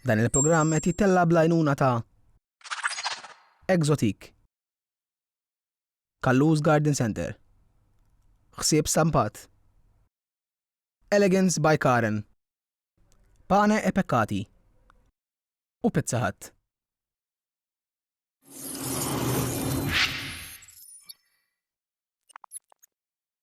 Dan il-programm qed jittella' bl-għajnuna ta' Exotic, Kallus Garden Centre, Ħsieb Stampat, Elegance by Karen, Pane e Peccati u Pizza Hut.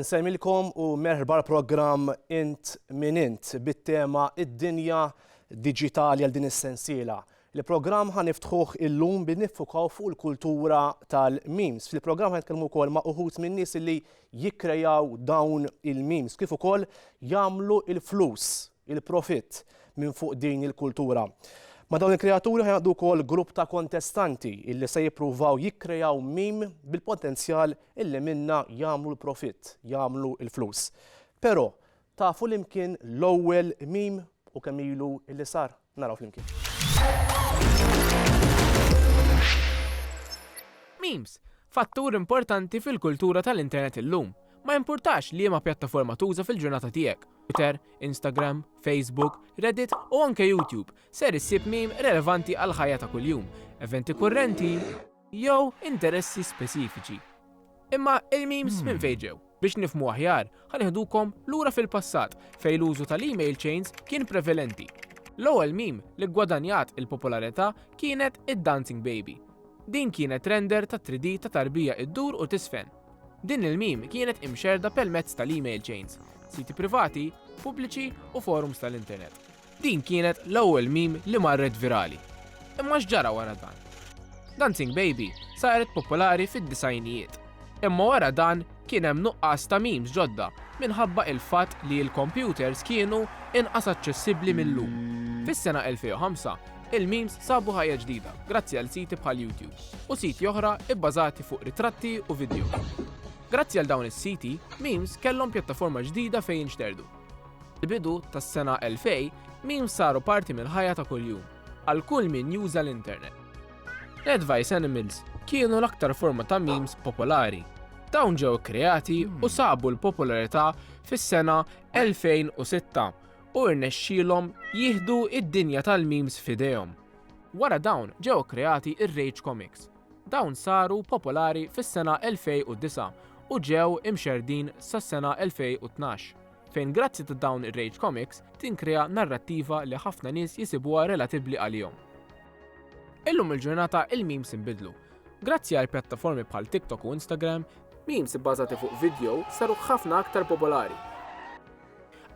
Insemmilkom u merħba l-programm Int min Int bit-tema Id-dinja diġitali għal din is-sensiela. Il-programm ħa niftħuh illum billi niffukaw fuq il-kultura tal-memes. Fil-programm ħa nitkellmu wkoll ma' uħud minn nies li jikkrejaw dawn il-memes kif ukoll jagħmlu il-flus, il-profitt minn fuq din il-kultura. Ma' dawn il-kreaturi ħa jaqdu wkoll grupp ta' kontestanti illi se jippruvaw jikkrejaw meme bil-potenzjal illi minna jagħmlu l-profitt, jagħmlu il-flus. Però Tafu li mkien l-ewwel meme u kemm ilu illi sar? Naraw flimkien. Memes, fattur importanti fil-kultura tal-internet illum. Ma jimpurtax liema pjattaforma tuża fil-ġurnata tiegħek, Twitter, Instagram, Facebook, Reddit u anke YouTube, ser issib meme relevanti għall-ħajja ta' kuljum, eventi kurrenti jew interessi speċifiċi. Imma il-memes minn fejn ġew? Biex nifhmu aħjar, ħa nieħdukom lura fil-passat fejn l-użu tal-email chains kien prevalenti. L-ewwel meme li ggwadanjat il-popolarità kienet id-dancing baby. Din kienet render ta' 3D ta' tarbija ddur u tiżfen. Din il-meme kienet imxerrda permezz tal-email chains, siti privati, pubbliċi u forums tal-internet. Din kienet l-ewwel meme li marret virali. Imma x'ġara wara dan? Dancing Baby saret popolari fid-disgħinijiet. Imma wara dan kien hemm nuqqas ta' memes ġodda minħabba il-fatt li l-kompjuters kienu inqas aċċessibbli mil-lum. Fis-sena 2005, il-memes sabu ħajja ġdida grazzi għal siti bħal YouTube u siti oħra bbażati fuq ritratti u vidjows. Grazzi għal dawn is-siti, memes kellhom pjattaforma ġdida fejn jinxterdu. Bidu tas-sena 2000, memes saru parti mill-ħajja ta' kuljum għal kull min juża l-internet. L-Advice Animals kienu l-aktar forma ta' memes popolari. Dawn ġew ikkreati u hmm. sabu l-popolarità fis-sena 2006 u rnexxielhom jieħdu id-dinja tal-memes f'idejhom. Wara dawn ġew kreati ir-Rage Comics, Dawn saru popolari fis-sena 2009 u ġew imxerrdin sas-sena 2012, fejn grazzi ta' dawn ir-rage comics tinkrea narrattiva li ħafna nies jisibuha relatibbli għalihom. Illum il-ġurnata il-memes inbidlu. Grazzi għal pjattaformi bħal TikTok u Instagram, memes ibbażati fuq vidjow saru ħafna aktar popolari.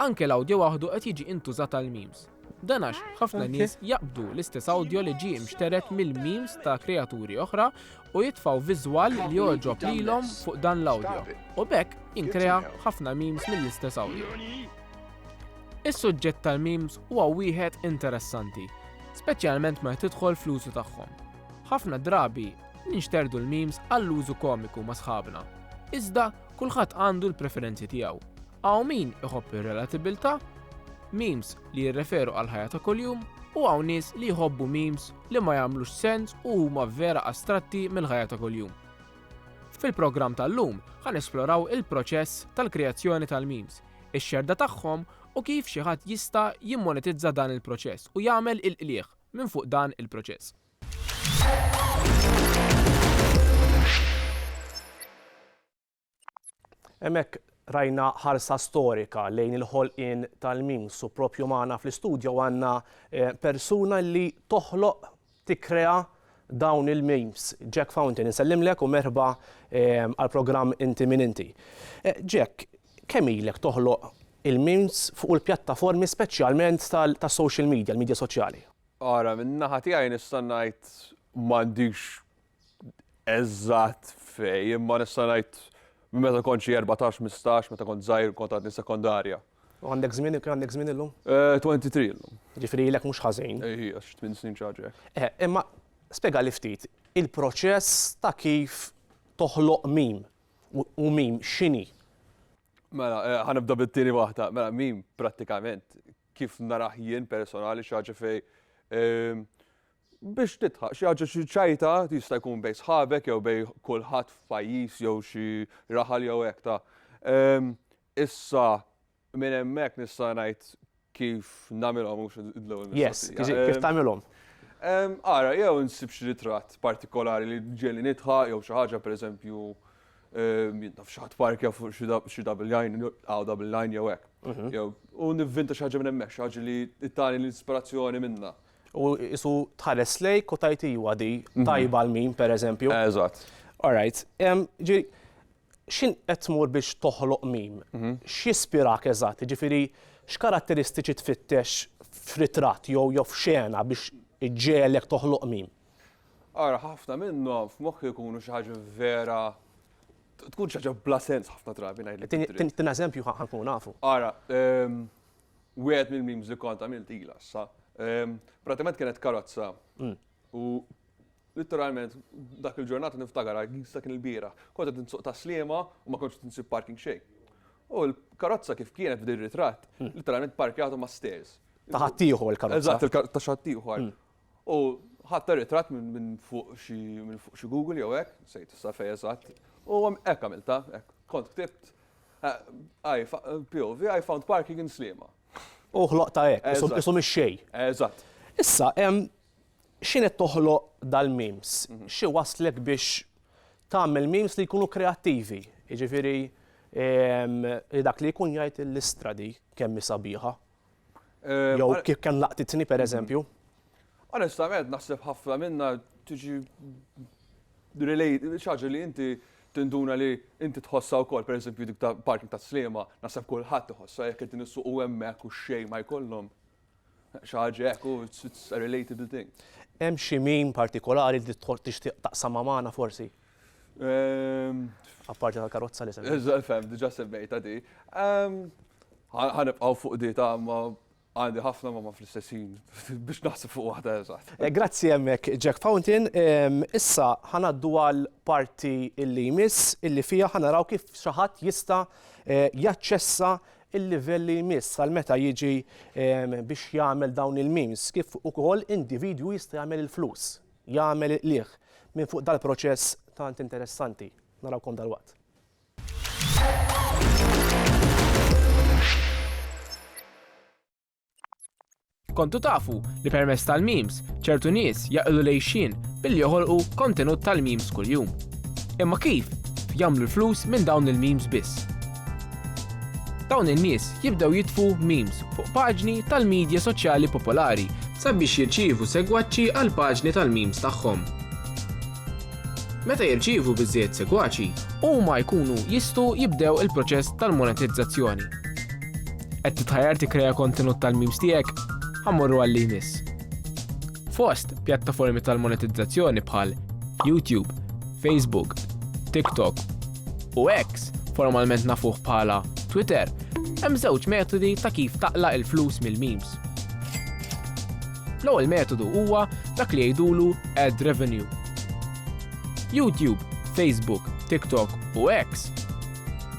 Anke l-awdjo waħdu qed jiġi intużat għall-memes. Dan għax ħafna nies jaqbdu l-istess awdjo li ġie mxteret mill-memes ta' kreaturi oħra u jitfgħu viżwal li jogħġob lilhom fuq dan l-awdjo, u b'hekk jinkrea ħafna memes mill-istess awdjo. Is-suġġett tal-memes huwa wieħed interessanti, speċjalment meta tidħol fl-użu tagħhom. Ħafna drabi ninxterdu l-memes għall-użu komiku ma' sħabna, iżda kulħadd għandu l-preferenzi tiegħu, Hawn min iħobb ir-relatibbiltà, memes li jirreferu għall-ħajja ta' kuljum, u hawn nies li jħobbu memes li ma jagħmlux sens u huma vera astratti mill-ħajja ta' kuljum. Fil-programm tal-lum ħa nesploraw il-proċess tal-kreazzjoni tal-memes, ix-xerda tagħhom u kif xi ħadd jista' jimmonetizza dan il-proċess u jagħmel il-qligħ minn fuq dan il-proċess. Hemmhekk rajna ħarsa storika lejn il-ħolqien tal-memes u propju magħna fl-istudjo għandna eh, persuna li toħloq tikkrea dawn il-memes. Jack Fountain, insellimlek u merħba eh, għal-programm Inti Min Inti. Eh, Jack, kemm ilek toħloq il-memes fuq il-pjattaformi speċjalment tas-social media, l-media soċjali? Ara, minnaħa tiegħi nista' ngħid m'għandix eżatt fej, imma nista' ngħid minn meta kont xi 14, 15, meta kont żgħir kont għadni sekondarja. U għandek żmien, kemm għandek żmien illum? 23 eh, illum. Ġifieri ilek mhux ħażin. Ejji, eh, għax tmien snin ċaġa hekk. Eh, imma spjegali ftit il-proċess ta' kif toħloq mim u mim x'inhi. Mela, ħanibda bit-tieni waħda. Mela, mim prattikament kif naraħ jien personali xi ħaġa fej ehm, biex tidħaq xi ħaġa xi ċajta jista' jkun bejn sħabek jew bejn kulħadd f'pajjiż jew xi raħal jew hekk ta'. Ehm, issa minn hemmhekk nista' ngħid kif nagħmilhom mhux l-ewwel Yes, kif ehm, tagħmilhom? Ehm, ara, jew insib xi ritratt partikolari li ġieli nidħa jew xi ħaġa pereżempju jintaf xi ħadd parkja fuq xi double line, għaw double line jew hekk. Mhm. Jew u nivvinta xi ħaġa minn hemmhekk, xi ħaġa li tani l-ispirazzjoni minna. U isu tħares lejk u tgħid iwa di tajba għal min, pereżempju. Eżatt. All right. Ġi, x'in qed tmur biex toħloq mim? Mhm. X'jispirak eżatt? Jiġifieri x'karatteristiċi tfittex f'ritratt jew jew f'xena biex iġġegħlek toħloq mim? Ara, ħafna minnhom f'moħħi jkunu xi ħaġa vera tkun xi ħaġa bla sens ħafna drabi ngħidlek. Tin eżempju ħankun nafu. Ara, ehm, Wieħed mill-memes li kont għamilt ila issa. Ehm, pratikament kienet karozza. Mm. U Literalment, dak il-ġurnata niftakar għal jista kien il-bira. Kont qed nsuq taslima u ma kontx tinsib parking xejn. U l-karozza kif kienet f'din ritratt, hmm. literalment parkjatu ma' stairs. Taħattieħu l-karozza. Eżatt, taħattieħu. Hmm. U ħadt ir-ritratt minn fuq xi minn fuq xi Google jew hekk, nsejt issa fejn eżatt. U hekk għamilta, hekk kont ktibt POV I found parking in Sliema. U ħloqtha hekk, isu mix-xejn. Eżatt. Issa, x'inhi toħloq dal-memes? Xi wasslek biex tagħmel memes li jkunu kreattivi? Jiġifieri li dak li jkun jgħid li l-Istra di kemm hi sabiħa, Jew kif kemm laqtitni pereżempju. Onestament naħseb ħafna minnha tiġi xi ħaġa li inti tinduna li inti tħossha wkoll, pereżempju dik ta' parking ta' Sliema, naħseb kulħadd iħossha jekk qegħdin issuqu hemmhekk u xejn ma jkollhom. Xi ħaġa hekk u it's a relatable thing. Hemm xi meme partikolari li tixtieq taqsamha magħna forsi? Apparti tal-karozza li semmejt. Eżatt, fem, diġa semmejta di. Ħanibqaw fuq di ta' ma għandi ħafna ma ma fl-istessin biex naħseb fuq waħda eżatt. Eh, grazzi hemmhekk Jack Fountain. Issa ħanaddu għal parti illi jmiss illi fija ħanaraw kif xi ħadd jista' eh, jaċċessa il-livell li jmiss għal meta jiġi biex jagħmel dawn il-memes kif ukoll individwu jista' jagħmel il-flus. jagħmel il-qligħ minn fuq dal-proċess tant interessanti. Narawkom dalwaqt. Kontu tafu li permess tal-memes ċertu nies jaqillu lejxin billi joħolqu kontenut tal-memes kuljum. Imma kif jagħmlu l-flus minn dawn il-memes biss? Dawn in-nies jibdew jitfu memes fuq paġni tal-midja soċjali popolari sabiex jirċievu segwaċi għall-paġni tal-memes tagħhom. Meta jirċievu biżżejjed segwaċi, huma jkunu jistgħu jibdew il-proċess tal-monetizzazzjoni. Qed titħajjar tikkrea kontenut tal-memes tiegħek? Ħammorru għal li jmiss. Fost pjattaformi tal-monetizzazzjoni bħal YouTube, Facebook, TikTok u X, formalment nafuh bħala Twitter, hemm żewġ metodi ta' kif taqla' il-flus mill-memes. L-ewwel metodu huwa dak li jgħidulu ad revenue. YouTube, Facebook, TikTok u X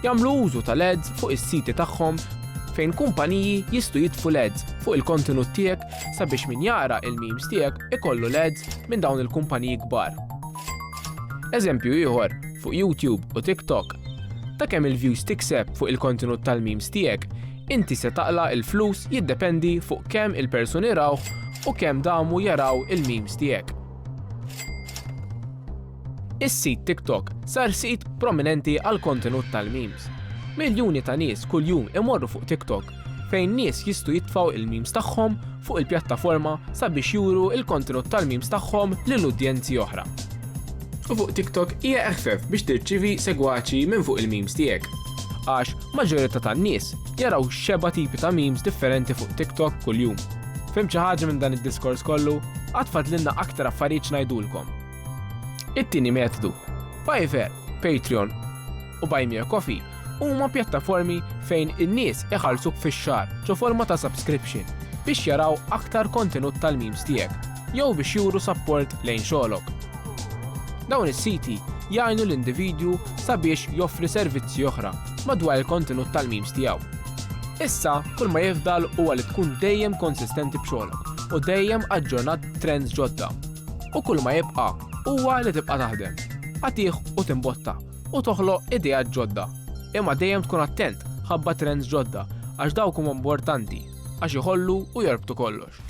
jagħmlu użu tal-ads fuq is-siti tagħhom fejn kumpaniji jistgħu jitfu l-ads fuq il-kontenut tiegħek sabiex min jara il-memes tiegħek ikollu l-ads minn dawn il-kumpaniji kbar. Eżempju ieħor, fuq YouTube u TikTok, ta' kemm il-views tikseb fuq il-kontenut tal-memes tiegħek, inti se taqla' il-flus jiddependi fuq kemm il-persuni rawh u kemm damu jaraw il-memes tiegħek. Is-sit TikTok sar sit prominenti għal kontenut tal-memes. Miljuni ta' nies kuljum imorru fuq TikTok fejn nies jistgħu jitfgħu il-memes tagħhom fuq il-pjattaforma sabiex juru l-kontenut tal-memes tagħhom lil udjenzi oħra. U fuq TikTok hija eħfef biex tirċievi segwaċi minn fuq il-memes tiegħek. Għax maġġorità tan-nies jaraw xeba tipi ta' memes differenti fuq TikTok kuljum. Fim xi ħaġa minn dan id-diskors kollu, għad fadlilna aktar affarijiet ngħidulkom. It-tieni metodu, Fiverr, Patreon, u Buy Me a Coffee huma pjattaformi fejn in-nies iħallsuk fix-xahar ġo forma ta' subscription biex jaraw aktar kontenut tal-memes tiegħek jew biex juru sapport lejn xogħlok. Dawn is-siti jgħinu l-individwu sabiex joffri servizzi oħra madwar il-kontenut tal-memes tiegħu. Issa, kull ma jifdal huwa li tkun dejjem konsistenti b'xogħlok u dejjem aġġornat trends ġodda. U kull ma jibqa' huwa li tibqa' taħdem, għatih u timbotta. u toħloq ideat ġodda. Imma dejjem tkun attent ħabba trends ġodda għax dawk huma importanti għax iħollu u jorbtu kollox.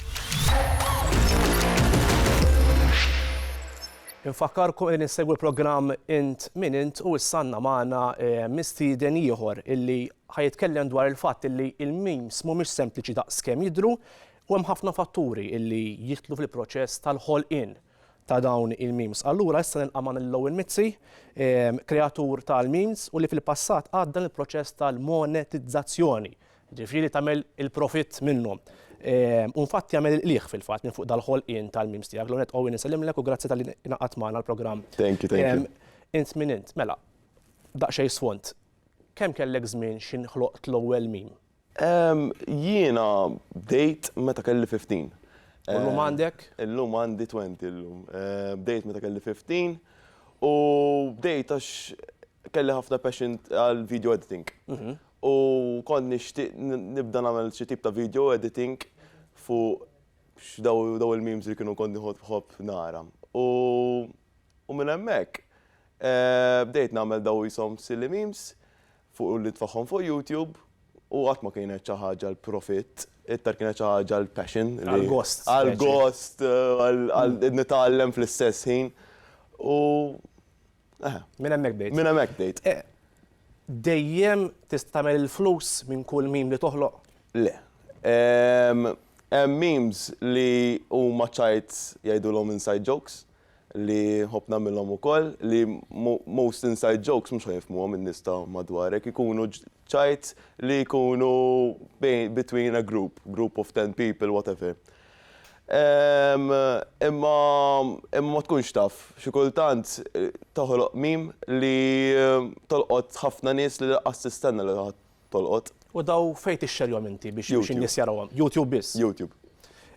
Infakkarkom li ninsegwi l-programm Int min Int u issanna magħna eh, mistieden ieħor illi ħajitkellem dwar il-fatt illi il-memes mhumiex sempliċi daqs kemm jidhru u hemm ħafna fatturi illi jitlu fil-proċess tal-ħolqien ta' dawn il-memes. Allura issa nilqa' magħna lil Owen Mizzi, kreatur tal-memes u li fil-passat għadda l-proċess tal-monetizzazzjoni, ġifieri tagħmel il-profitt minnhom. U nfatt jagħmel il-qligħ fil-fatt minn fuq dal-ħolqien tal-memes tiegħek. L-ewwel nett Owen insellimlek u grazzi talli ingħaqadt magħna l-programm. Thank you, thank you. Int min int? Mela, daqsxejn sfond. Kemm kellek żmien x'inħloqt l-ewwel meme? Ehm, jiena bdejt meta kelli fifteen. U llum għandek? Illum għandi twenty llum. Eh, bdejt meta kelli fifteen u bdejt għax kelli ħafna passion għal video editing. Mhm. U kont nixtieq nibda nagħmel xi tip ta' video editing fuq daw il-memes li kienu kont nieħod bħobb nara. U minn hemmhekk eh, bdejt nagħmel daw jisom silly memes fuq u li tfagħhom fuq YouTube u qatt ma kienet xi ħaġa għal profitt, iktar kienet xi ħaġa għal passion. Għal gost. Għal gost, għal nitgħallem fl-istess ħin. U eħe. Minn hemmhekk bdejt. Minn hemmhekk bdejt. Dejjem tista' tagħmel il-flus minn kull meme li toħloq? Le. Hemm memes li huma ċajt jgħidulhom inside jokes. li nħobb nagħmilhom ukoll li most inside jokes mhux ħa jifhmuhom in-nies ta' madwarek, ikunu ċajt li jkunu between a group, group of ten people, whatever. Imma ma tkunx taf, xi kultant toħloq meme li tolqot ħafna nies li laqqas tistenna li tolqot. U daw fejn tixxerjhom inti biex in-nies jarawhom? YouTube biss? YouTube.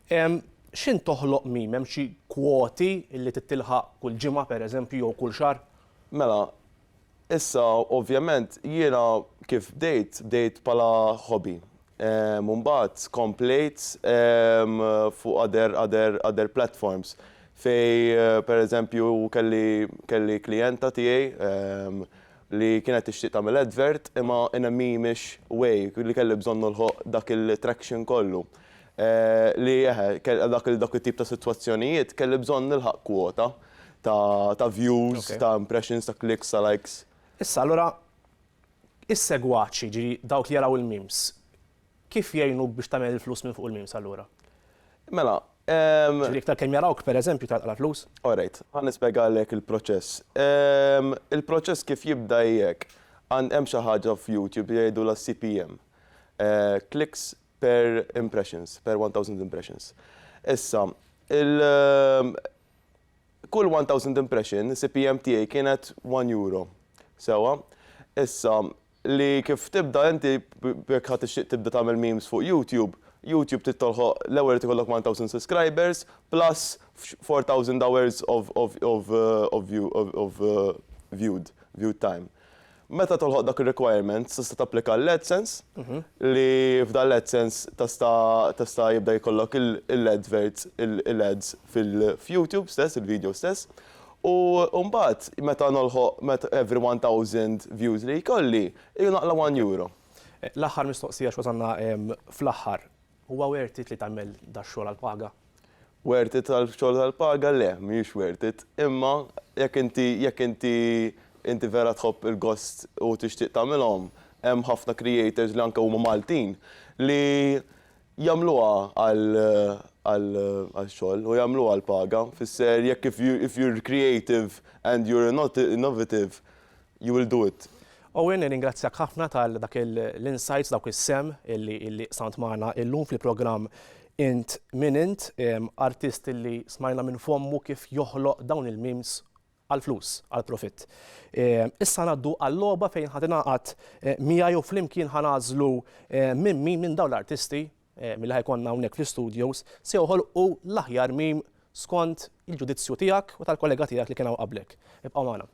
X'int toħloq meme? Hemm xi kwoti li trid tilħaq kull ġimgħa pereżempju jew kull xahar? Mela, issa ovvjament jiena kif bdejt, bdejt bħala hobby. U mbagħad komplejt fuq other, other, other platforms fejn pereżempju kelli, kelli klijenta tiegħi li kienet tixtieq tagħmel advert imma NME mhix way li kelli bżonn nilħoq dak il-traction kollu li eħe għal dak it-tip ta' sitwazzjonijiet kelli bżonn nilħaq kwota ta' views, ta' impressions, ta' clicks, ta' likes. Issa allura is-segwaċi, jiġifieri dawk li jaraw il-memes, Kif jgħinuk biex tagħmel il-flus minn fuq il-memes allura? Mela, ehm. Ġifieri iktar kemm jarawk pereżempju tagħlaq l-flus? Alright, ħa nispjegalek il-proċess. Ehm, il-proċess kif jibda hi hekk, għand hemm xi ħaġa f'Youtube li jgħidulha CPM, eh, clicks per impressions, per 1000 impressions. Issa, il- ehm, kull 1000 impression, CPM tiegħi kienet 1 euro. Sewwa? Issa, Li kif tibda inti jekk ħa tixtieq tibda tagħmel memes fuq YouTube, YouTube trid tolħoq l-ewwel irid ikollok one thousand suscribers plus four thousand hours of of of of viewed viewed time. Meta tolħoq dak ir-requirement tista' tapplika għall-AdSense li f'dan l-AdSense tista' tista' jibda jkollok il-adverts il-ads fil f'YouTube stess il-video stess. U mbagħad meta nilħoq met every one thousand views li jkolli, iju naqla' one euro. L-aħħar mistoqsija x'wasalna fl-aħħar. Huwa worth it li tagħmel dax-xogħol għall-paga? Worth it għall-xogħol tal-paga? Le, mhijiex worth it. Imma jekk inti jekk inti inti vera tħobb il-gost u tixtieq tagħmilhom, hemm ħafna creators li anke huma Maltin li Jagħmluha għall-xogħol u jagħmluha għall-paga, fisser jekk if you if you're creative and you're innovative you will do it. Owen nirringrazzjak ħafna tal dak l-insights dawk is-sehem illi illi qsamt magħna illum fil-programm Int Min Int, artist illi smajna minn fommu kif joħloq dawn il-memes għall-flus, għall-profitt. Issa ngħaddu għal-logħba fejn ħa tingħaqad miegħi u flimkien ħa nagħżlu minn min minn dawn l-artisti, milli ħa jkollna hawnhekk fl-istudios, se joħolqu l-aħjar meme skont il-ġudizzju tiegħek u tal-kollega tiegħek li kien hawn qablek. Ibqgħu magħna.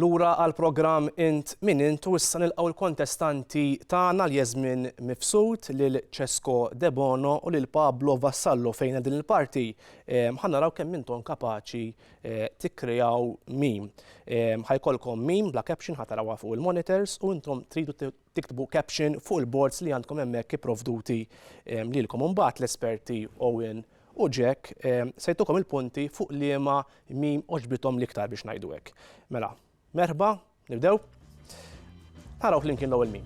Lura għall-programm Int Min Int u issa nilqgħu l-kontestanti tagħna Jasmin Mifsud, lil Cesco Debono u lil Pablo Vassallo fejn din il-parti ehm, ħa naraw kemm intom kapaċi eh, tikkreaw mim. Ehm, ħajkolkom mim bla caption ħatarawha fuq il-monitors u intom tridu tiktbu caption fuq il-boards li għandkom hemmhekk ipprovduti ehm, lilkom. Imbagħad l-esperti Owen u Jack ehm, se jtukom il-punti fuq liema mim oġbitom l-iktar biex ngħidu hekk. Mela, merħba, nibdew. Naraw flimkien l-ewwel mim.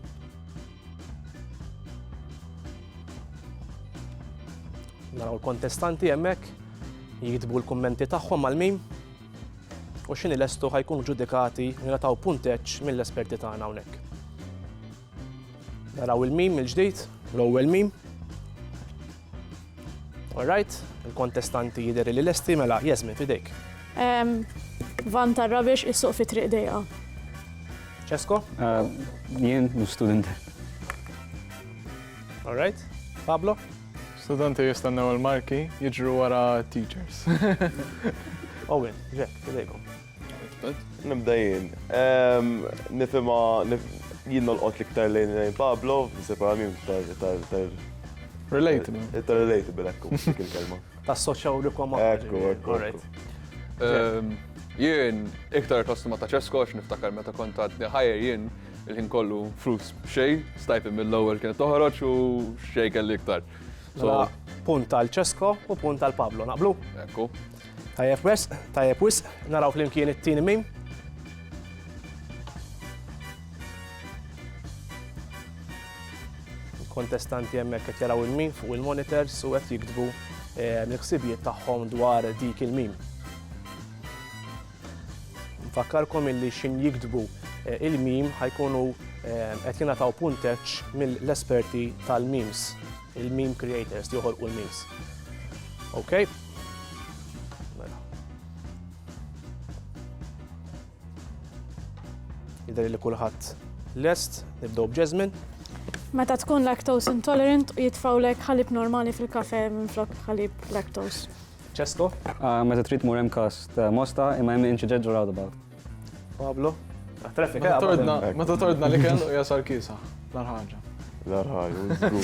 Naraw l-kontestanti hemmhekk jiktbu l-kummenti tagħhom mal-mim. u x'inhi lestu ħa jkunu ġudikati u jingħataw punteġġ mill-esperti tagħna hawnhekk. Naraw il-mim mill-ġdid, l-ewwel mim. Alright, il-kontestanti jidher li lesti mela jeżmin fidejk. Van tar-rabiex is-suq fi triq dejqa. Ċesko? Eh, jien student. Alright, Pablo? Studenti jistennew il-marki jiġru wara teachers. Owen, Jack, fidejkom. Nibda jien. Nifima jien nolqot l-iktar lejn lejn Pablo, separa minn tal Relatable. Tal relatable, ekku, dik il-kelma. Ta' soċaw li kwa Ekku, ekku. Jien iktar kostuma ta' ċeskox niftakar meta kont għadni ħajr jien Il-ħin kollu flus xej, stajt mill lower kienet toħroġ u xej kelli iktar. Mela, punt għal Ċesko u punt għal Pablo, naqblu? Ekku. Tajjeb wes, tajjeb wis, naraw flimkien it-tieni mim. Kontestanti hemmhekk qed jaraw il-mim fuq il-monitors u qed jiktbu eh, l-ħsibijiet tagħhom dwar dik il-mim. Nfakkarkom illi x'in jiktbu il-meme ħa jkunu qed jingħataw punteġġ mill-esperti tal-memes, il-meme creators li joħolqu l-memes. Okay? Mela. Jidher li kulħadd lest, nibdew b'Jasmine. Meta tkun lactose intolerant u jitfawlek ħalib normali fil-kafe minflok ħalib lactose. Cesco. Meta trid tmur hemm każ ta' Mosta imma hemm incident ġo roundabout. Pablo. Traffic Meta tordna, meta tordna li kellu jasal kisa. L-ar ħaġa. L-ar ħaġa, u żgur.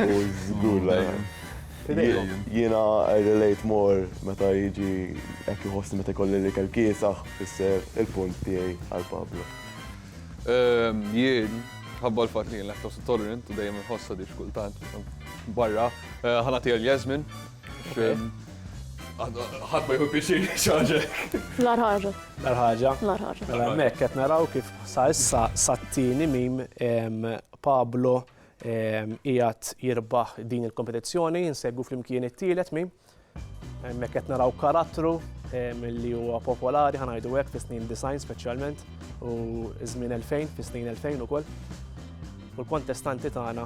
U żgur l-ar ħaġa. Jiena I relate more meta jiġi hekk iħossni meta jkolli li kell kiesaħ fisser il-punt tiegħi għal Pablo. Jien, ħabba l-fatt li jien lactose intolerant u dejjem inħossha di xkultant barra, ħanati għal Jasmine. ħadd ma jħu pixir xaġek. Lar ħaġa. Lar ħaġa. Lar ħaġa. Mela hemmhekk qed naraw kif sa issa sat-tieni mim Pablo qiegħed jirbaħ din il-kompetizzjoni, insegwu flimkien it-tielet mim. Hemmhekk qed naraw karattru li huwa popolari ħanajdu hekk fis-snin design speċjalment u żmien 2000 fis-snin 2000 ukoll. u l-kontestanti tagħna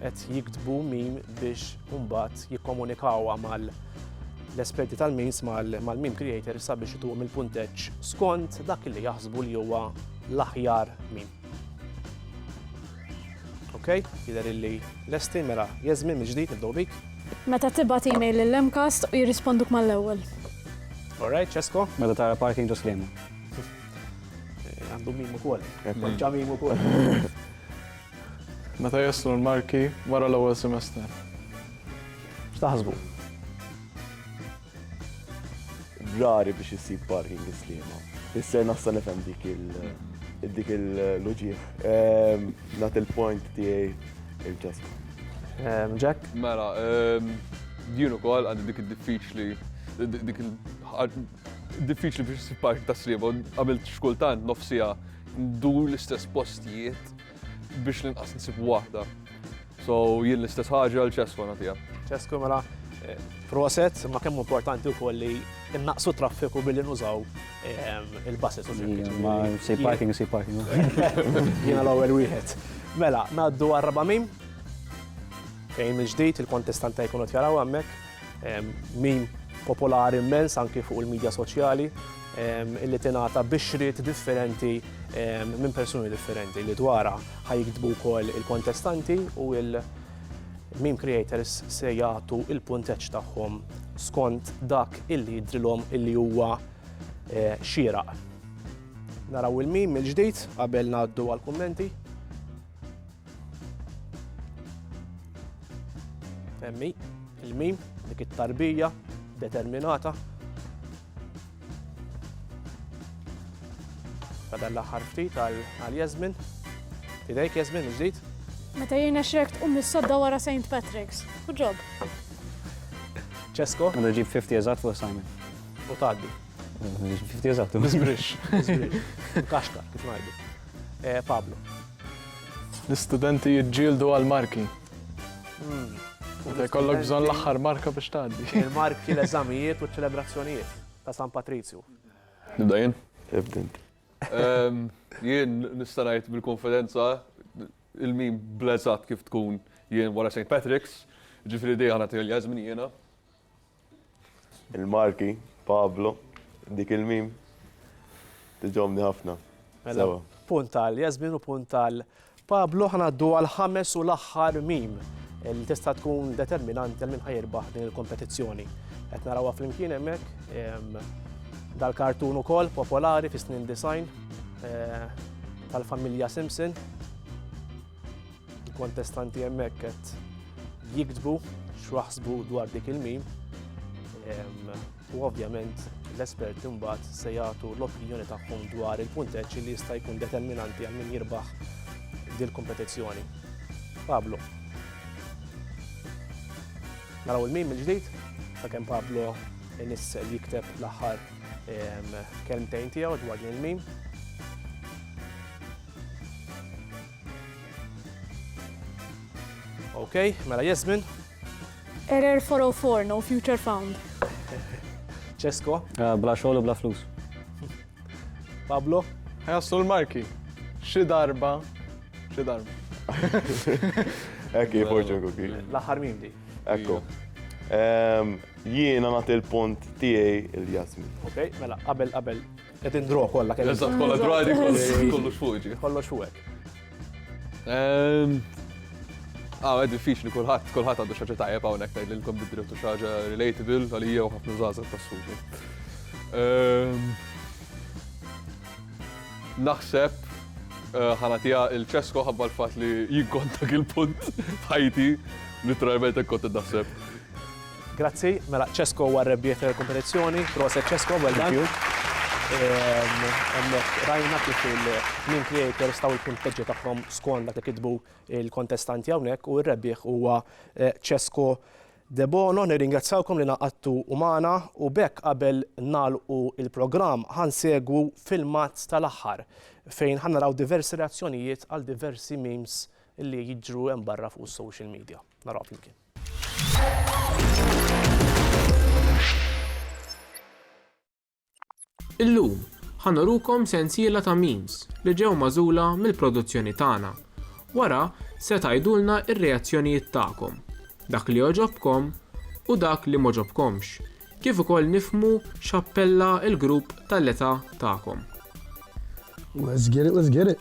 qed jiktbu mim biex mbagħad jikkomunikawha mal l-esperti tal-memes mal-meme creator sabiex ituhom il-punteġġ skont dak li jaħsbu li huwa l-aħjar meme. Ok, jidher illi lesti mela jeżmin mill-ġdid nibdew bik. Meta tibgħat email lil Lemcast u jirrisponduk mal-ewwel. Alright, Ċesko? Meta tara parking ġo sliema. Għandu mim ukoll. Konċa mim ukoll. Meta jaslu l-marki wara l-ewwel semestru. X'taħsbu? Rari biex issib parking islima. Isser nassa nifhem dik il-dik il-loġija. Ehm, nat il-point tiegħi il-ġasm. Ehm, Jack? Mela, ehm, din ukoll għandi dik id-diffiċli dik il Diffiċli biex issib park ta' sliema, għamilt x'kultant nofs siegħa ndur l-istess postijiet biex l-inqas nsib waħda. So jien l-istess ħaġa għal ċeswa nagħtiha. Ċesku mela proset, ma kemm importanti wkoll li innaqsu traffiku billi nużaw ehm, il-buses u l-ġirkiet. Ma si parking, si parking. Jiena l-ewwel wieħed. Mela, ngħaddu għar-raba' fejn il-ġdid il-kontestanta jkunu tjaraw hemmhekk. Meme popolari immens anki fuq il-midja soċjali illi tingħata bixriet differenti minn persuni differenti li dwarha ħajkdbu wkoll il-kontestanti u il-meme creators se jagħtu il-punteġġ tagħhom skont dak illi jidrilhom illi huwa eh, xieraq. Naraw il-meme mill-ġdid qabel ngħaddu għall-kummenti. Emmi, il-mim, dik it-tarbija determinata. Bada l-aħħar ftit għal Jasmin. Idejk Jasmin ġdid? Meta jirna xrekt um mis-sodda wara St. Patrick's. Good job. Ċesko? Għandu ġib 50 eżat fuq Simon. U taddi. Fifti eżattu. Bizbrix. Kaxka, kif ngħidu. Eh, Pablo. L-istudenti jġildu għal-marki. Hmm. Kollok bżon l-axħar marka biex tgħaddi. Il-marki l-eżamijiet u ċelebrazzjonijiet ta' San Patrizju. Nibda jien? Ibdint. Ehm, jien nistanajt bil-konfidenza il-min blezzat kif tkun jien wara St. Patrick's, ġifri di għana t-għal jazmin jiena. Il-Malti, Pablo, dik il-mim tiġobni ħafna. Mela, punt għal Jasmin u punt għal Pablo ħanaddu għal ħames u l-aħħar mim li tista' tkun determinant għal minn ħajirbaħ din il-kompetizzjoni. Qed narawha flimkien hemmhekk dal-kartun ukoll popolari fis-snin design eh, tal-familja Simpson Il-kontestanti hemmhekk qed jiktbu x'waħsbu dwar dik il-mim u ovvjament l-esperti mbagħad se jagħtu l-opinjoni tagħhom dwar il-punteġġ li jista' jkun determinanti għal min jirbaħ dil-kompetizzjoni. Pablo. Naraw il-mim il-ġdid, ta' kemm Pablo nis jikteb l-aħħar kelmtejn tiegħu dwar il-mim. Ok, mela Jasmine. Error 404, no future found. Cesko. Eh, bla xogħol u bla flus. Pablo. Ħajaslu l-marki. Xi darba, xi darba. Ekki, fortune cookie. L-aħħar mim di. Ekku. Ehm, jiena nagħti l-punt tiegħi il-Jasmin. Ok, mela qabel qabel Qed indraw kollha kemm. Eżatt, kollha drawdi, kollox fuq ġi. Kollox fuq hekk. Ehm, ah, għed diffiċli kulħadd, kulħadd għandu xaġa tajjeb hawnhekk tgħidilkom bid-drittu xaġa relatable għalija u ħafna żgħażagħ tas-suġi. Ehm, naħseb eh, ħanatija il-ċesko ħabba l-fat li jikkontak il-punt ħajti, literalment ekkont id-daħseb. Grazzi, mela Cesco huwa r-rebbieħ tal-kompetizzjoni. Proset Cesco, well done. Hemmhekk rajna kif il-meme creators taw il-punteġġi tagħhom skont dak li kitbu l-kontestanti hawnhekk u r-rebbieħ huwa Cesco Debono. Nirringrazzjawkom li ngħaqadtu magħna u b'hekk qabel nagħlqu l-programm ħa nsegwu filmat tal-aħħar fejn ħa naraw diversi reazzjonijiet għal diversi memes li jiġru hemm barra fuq is-social media. Narawha flimkien. Illum, ħa nurukom sensiela ta' memes li ġew magħżula mill-produzzjoni tagħna. Wara, se tgħidulna r-reazzjonijiet tagħkom, dak li għoġobkom u dak li m'għoġobkomx, kif ukoll nifhmu x'appella l-grupp tal-età tagħkom. Let's get it, let's get it!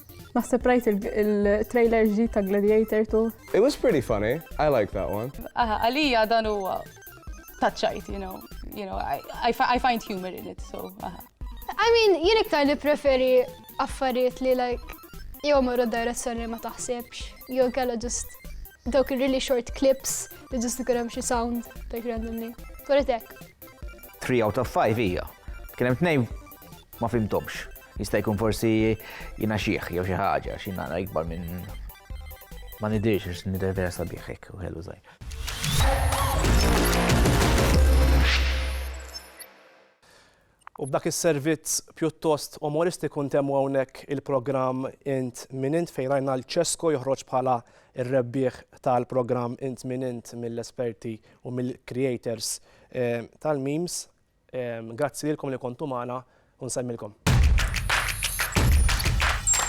Naħseb rajt il-trailer ġdid ta' Gladiator 2. It was pretty funny. I like that one. Aha, għalija dan huwa taċċajt, you know. You know, I, I, I find humor in it, so aha. I mean, jien iktar li preferi affarijiet li like jew marru d-direzzjoni ma taħsibx, jew kella just Dawk ir-really short clips li ġust ikun hemm xi sound like randomly. Toret hekk. 3 out of 5 hija. Kien hemm tnejn ma fimtomx. Jista' jkun forsi jiena xieħ jew xi ħaġa xi nara ikbar minn ma nidirx għax nidher vera sabiħ hekk u ħelu żgħir. U b'dak is-servizz pjuttost umoristiku ntemmu hawnhekk il-programm Int Min Int fejn rajna 'l Cesco joħroġ bħala r-rebbieħ tal-programm Int Min Int mill-esperti u mill-creators tal-memes. Grazzi lilkom li kontu magħna u nsemmilkom.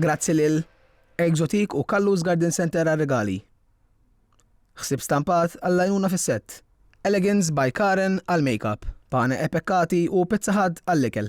Grazzi lil Exotique u Kallus Garden Center għar-rigali. Ħsieb stampat għall-għajnuna fis-sett. Elegance by Karen għall-makeup. Pane e Peccati u Pizza Hut għall-ikel.